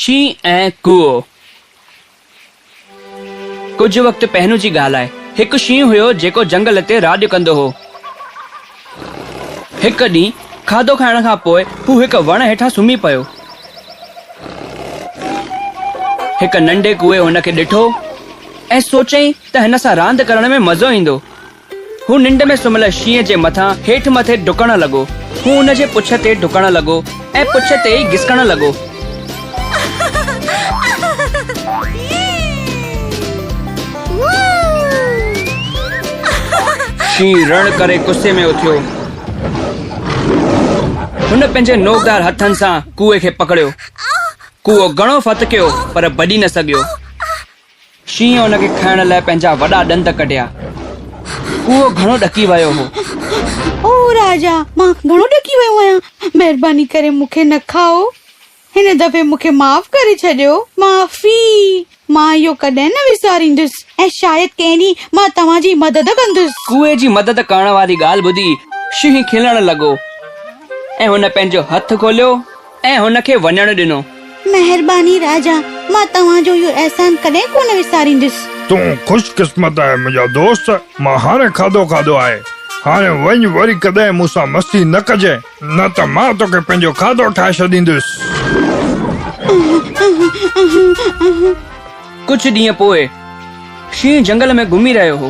شينهن ۽ ڪوئو ڪجهه وقت پهريون جي ڳالهه آهي. هڪ شينهن هيو جيڪو جنگل تي راڄ ڪندو هو. هڪ ڏينهن کاڌو کائڻ کان پوء هو هڪ وڻ هيٺان سمهي پيو. هڪ ننڍي ڪوئي هن کي ڏٺو ۽ سوچيائين ته هن سان راند ڪرڻ ۾ مزو ايندو. هو ننڊ ۾ سمهيل شينهن جي مٿان هيٺ مٿي ڊڪڻ لڳو. هو ان جي پڇ تي ڊڪڻ لڳو ۽ پڇ تي ئي گسڪڻ لڳو. شينهن رڙ ڪري غصي ۾ اٿيو. هن پنهنجي نوڪدار هٿن سان ڪوئي کي پڪڙيو. ڪوئو گهڻو ڦٿڪيو پر ڀڄي نه سگهيو. شينهن ان کي کائڻ لاء پنهنجا وڏا ڏند ڪڍيا. اهو گهڻو ڏڪي ويو هو. او راجا، مان گهڻو ڏڪي ويو آهيان. مهرباني ڪري مون کي نه کائو. هن دفعي مون کي معاف ڪري ڇڏيو. معافي! مان اهو ڪڏهن نه وساريندس ۽ شايد ڪنهن ڏينهن مان توهان جي مدد ڪندس. ڪوئي جي مدد ڪرڻ واري ڳالهه ٻڌي شينهن کلڻ لڳو ۽ هن پنهنجو هٿ کوليو. ۽ هن کي وڃڻ ڏنو. مهرباني راجا، مان توهان جو اهو احسان ڪڏهن ڪونه وساريندس. تون خوش قسمت آهين منهنجا دوست، مان هاڻي کاڌو کاڌو آهي. هاڻي وڃ وري ڪڏهن مون سان مستي نه ڪجين، نه ته مان توکي پنهنجو کاڌو ٺاهي ڇڏيندس. ڪجهه ڏينهن پوء شينهن جهنگل ۾ گهمي رهيو هو.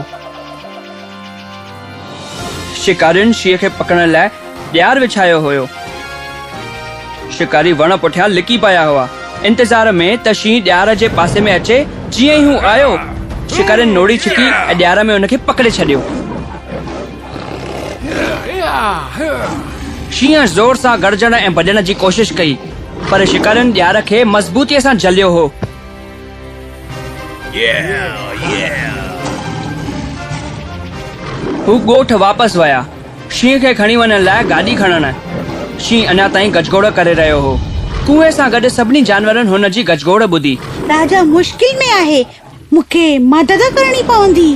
شڪارين شينهن کي پڪڙڻ لاء ڄار وڇايو هيو. شڪاري وڻ پٺيان لڪي پيا هئا، انتظار ۾ ته شينهن ڄار جي پاسي ۾ اچي، جيئن ئي هو آيو، شڪارين نوڙي ڇڪي ۽ ڄار ۾ ان کي پڪڙي ڇڏيو. شينهن زور سان گرجڻ ۽ ڀڄڻ جي ڪوشش ڪئي، پر شڪارين ڄار کي مضبوطيء سان جهليو هو. هو ڳوٺ واپس ويا. شينهن کي کڻي وڃڻ لاء گاڏي کڻڻ. شينهن اڃا تائين گجگوڙ ڪري رهيو هو. ڪوئي سان گڏ سڀني جانورن هن جي گجگوڙ ٻڌي. راجا مشڪل ۾ آهي. مون کي مدد ڪرڻي پوندي.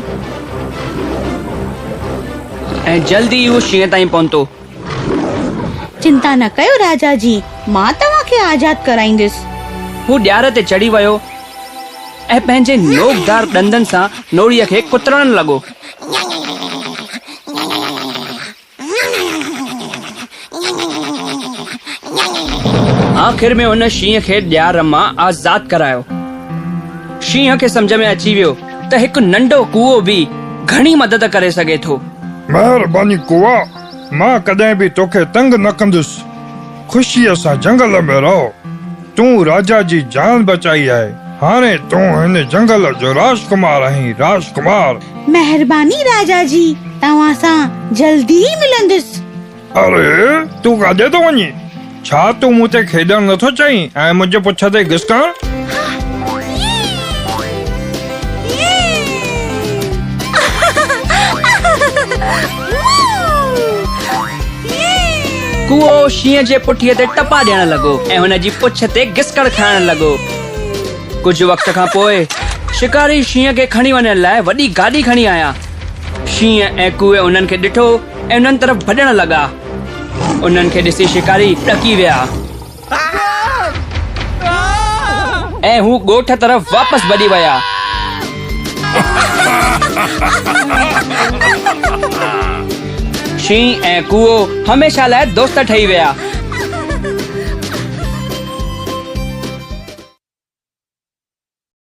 ۽ جلد ئي اهو شينهن تائين پهتو. چنتا نه ڪيو راجا جي، مان توهان کي آزاد ڪرائيندس. هو ڏيار تي چڙهي ويو ۽ پنهنجي نوڪدار ڏندن سان نوڙيء کي ڪترڻ لڳو. آخر ۾ هن شينهن کي ڏيار مان آزاد ڪرايو. شينهن کي سمجهه ۾ اچي ويو ته هڪ ننڍو ڪوئو به گهڻي مدد ڪري سگهي ٿو. مهرباني ڪوئا، مان ڪڏهن به توکي تنگ نه ڪندس، خوشيء سان جهنگل ۾ رهو، تون راجا جي جان بچائي آهي، هاڻي تون هن جهنگل جو راجڪمار آهين، راجڪمار! مهرباني راجا جي، توهان سان جلدي ئي ملندس. اري! تون ڪاڏي ٿو وڃين؟ ڇا تون مون تي کيڏڻ نه ٿو چاهين ۽ منهنجي پڇ تي گسڪڻ؟ ڪوئو شينهن جي پٺيء تي ٽپا ڏيڻ لڳو ۽ هن جي پڇ تي گسڪڻ کائڻ لڳو. ڪجهه وقت کان پوء شڪاري شينهن کي کڻي وڃڻ لاء وڏي گاڏي کڻي آيا. شينهن ۽ ڪوئي انهن کي ڏٺو ۽ انهن طرف ڀڄڻ لڳا. انهن کي ڏسي شڪاري ڏڪي ويا. ۽ هو ڳوٺ طرف واپس ڀڄي ويا. شينهن ۽ ڪوئو هميشه لاء دوست ٺهي ويا.